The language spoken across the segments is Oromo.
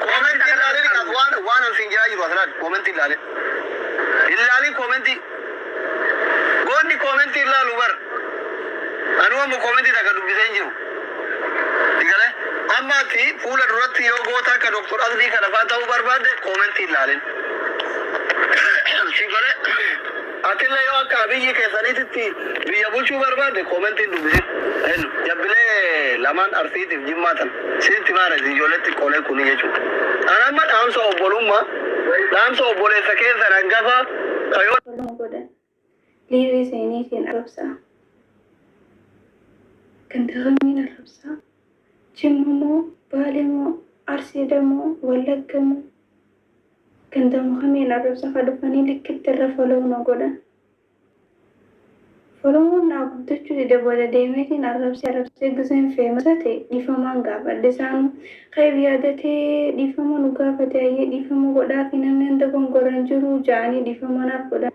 Comment ilaalin as waan waan an siin jedhaa jiru as laali. Comment ilaalin. Ilaalin comment. Goonni comment ilaalu bar. Anu amma comment takka dubbisee hin jiru. Digale. Amma ati fuula duratti yoo goota akka Dr. Asbii kana fa'aa ta'uu barbaadde comment ilaalin. Si gole. Atille yoo akka Abiyi keessanititti biyya bulchuu barbaadde commentin dubisi L jabbilee lamaan Arsiitif Jimmaa tana sitti himaa rasi ijoollee xiqqoolee kuni jechuu An amma dhaamsa obbolumma dhaamsa obboleessa keessan hangafa ka yoo follow godha live seenee keen arrabsa ganda kamiin arrabsa jimma moo baale moo arsiida moo wallagga moo Ganda Muhameen Arrabsa ka dhufanii likkitti irra follow nu godha. Followon naa guddachuu dide booda deemeetiin arrabsee arrabsee gizeen famous ta'e dhiifamaan gaafadhe isaanuu kayr yaadatee dhiifama nu gaafate hayyee dhiifama godhaafi namni an dogongore hin jiru ja'anii dhiifama naaf godhan.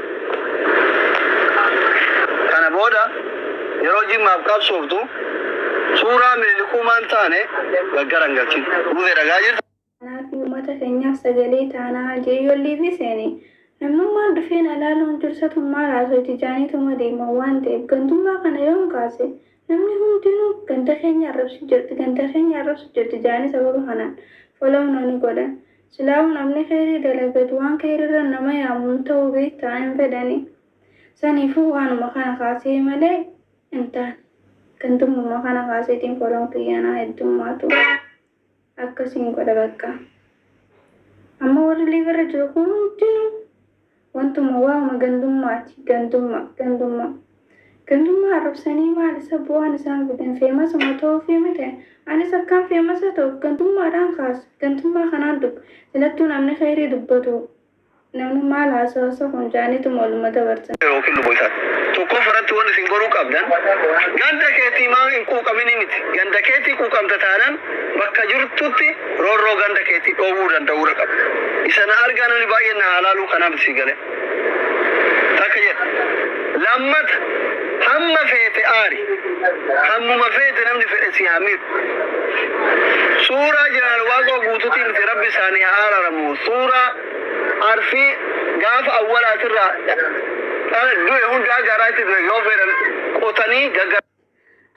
Kana booda yeroo Jimmaaf qabsooftu suuraa Minilikuu maan taane gaggara hin galchin. Muzee dhagaa jirta. Kanaa fi umata keenyaaf sagalee taanaa jee yoo liivii seene namnummaan dhufee na laaluun dursatummaa raasoyti jaaniituma deema waan ta'eef gantummaa kana yoon kaase Namni hundinuu ganda keenya arrabsu jirti ganda keenya arrabsu jirti jaanii sababa kanaan follow na ni godhan. Silaahuu namni keyrii dalagatu waan keyriirra nama yaamu hin tahu beeytaa hin fedhani. Saniifuu waanuma kana kaasee malee hin taane. Gantummuma kana kaaseetiin follown kiyya na heddummaatu. Akkasiin godha bakka. Amma warri live irra jiru hundinuu wantuma waa'uma gandummaati. Gandummaa, gandummaa. Gandummaa arrabsanii maal isa bu'aan isaan fidan feemasuma ta'uufii miti. Anis akkaan feemasa ta'uuf gandummaadhaan kaasa. Gandummaa kanaan dubba. Silattuu namni khayrii dubbatu. Namni maal haasawasa kun jaaniituma oluma dabarsan. yookiin luba isaa tokkoof irratti waan isin goruu qabdan ganda keetii maa hin quuqaminii miti ganda keetii quuqamta taanaan bakka jirtutti roorroo ganda keetii dhoowwuu danda'uudha qabda isa na argaa namni baay'een na haalaaluu kanaa miti sii galee takka jedha lammata hamma feete aari hammuma feete namni fedhe si haa miidhu Suuraa Jeneraal Waaqoo Guutuutiin fi Rabbi isaanii haa araaramu. Suuraa Arfii gaafa awwalaatirraa dhala du'e hundaa garaa itti du'e yoo fedhan qotanii gagga.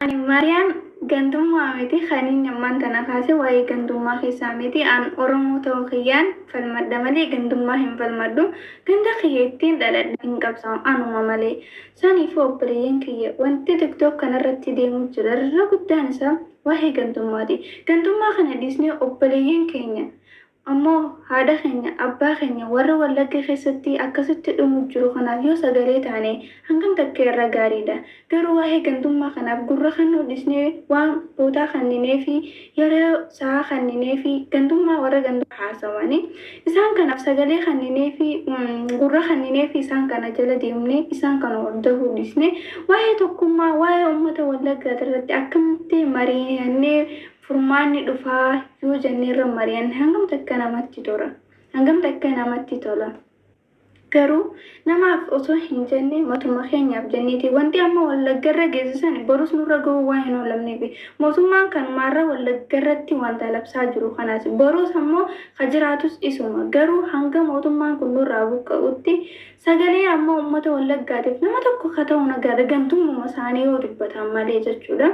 Ani Maariyaam gantummaa miti kan inni ammaan tana kaase waa'ee gantummaa keessaa miti an Oromoo ta'uu kiyyaan falmadha malee gantummaa hin falmadhu ganda kiyya ittiin dhaladhe hin qabsaa'u anuma malee Saniifuu obboleeyyan kiyya wanti tiktok kanarratti deemu jiru irra guddaan isaa waa'ee gantummaati. Gantummaa kana dhiisnee obboleeyyan keenya ammoo haadha keenya, abbaa keenya warra wallagga keessatti akkasitti dhumu jiru kanaaf yoo sagalee taane hangam takkee irra gaariidha. Garuu waa'ee gantummaa kanaaf gurra kannuu dhiisnee waan boodaa kannineefi yeroo isaa kannineefii, gandummaa warra gandummaa haasawani, isaan kanaaf sagalee kannineefii, gurra kannineefii isaan kana jala deemnee, isaan kana hordofuu dhiisnee, waa'ee tokkummaa, waa'ee ummata Wallaggaa irratti akkamitti mari'annee furmaanni dhufaa yoo jennee irra mari'anne hangam takka namatti tola? Hangam takka namatti tola? Garuu namaaf osoo hin jenne matuma keenyaaf jenneeti. Wanti amma Wallaggarra geesse sani borus nurra gahuu waan hin oolamneefi. Mootummaan kanumaarra Wallaggarratti wanta labsaa jiru kanaasi. Borus ammoo ka jiraatus isuma. Garuu hanga mootummaan kun nurraa buqqa'utti sagalee ammoo ummata Wallaggaatiif nama tokko ka ta'u nagaadha gantummuma isaanii yoo dubbatan malee jechuudha.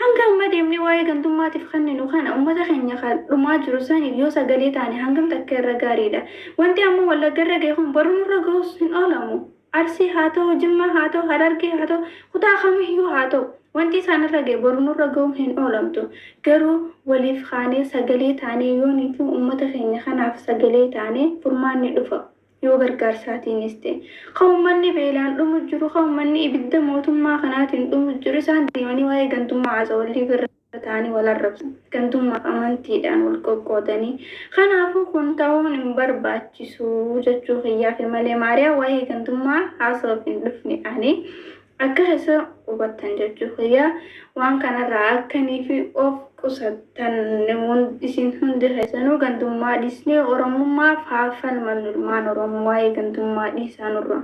Hanga amma deemnee waa'ee gantummaatiif kenninu kana ummata keenya ka dhumaa jiru saniif yoo sagalee taane hangam takka irra gaariidha? Wanti amma Wallagga irra gahe kun boru nurra gahus hin oolamu. Arsii haa tahu, Jimmaa haa tahu, Harargee haa tahu, kutaa kamiyyuu haa tahu wanti isaan irra gahe boru nurra gahuun hin oolamtu. Garuu waliif kaanee sagalee taanee yoonii fi ummata keenya kanaaf sagalee taane furmaanni dhufa. yoo gargaarsaatiinis ta'e, ka ummanni beelaan dhumu jiru, ka ummanni ibidda mootummaa kanaatiin dhumu jiru, isaan deemanii waa'ee gantummaa haasawa wallii birra ta'anii wal arrabsan. Gantummaaf amantiidhaan wal qoqqoodanii. Kanaafuu kun ta'uun hin barbaachisu jechuu kiyyaaf malee Maariyaa waa'ee gantummaa haasawaf hin dhufne ani. Akka isa hubattan jechuu kiyya. Waan kanarraa akkaniifi of qusattan isin hundi keessanuu gandummaa dhiisnee Oromummaaf haa falmannu ilmaan Oromoo waa'ee gandummaa dhiisaa nurraa.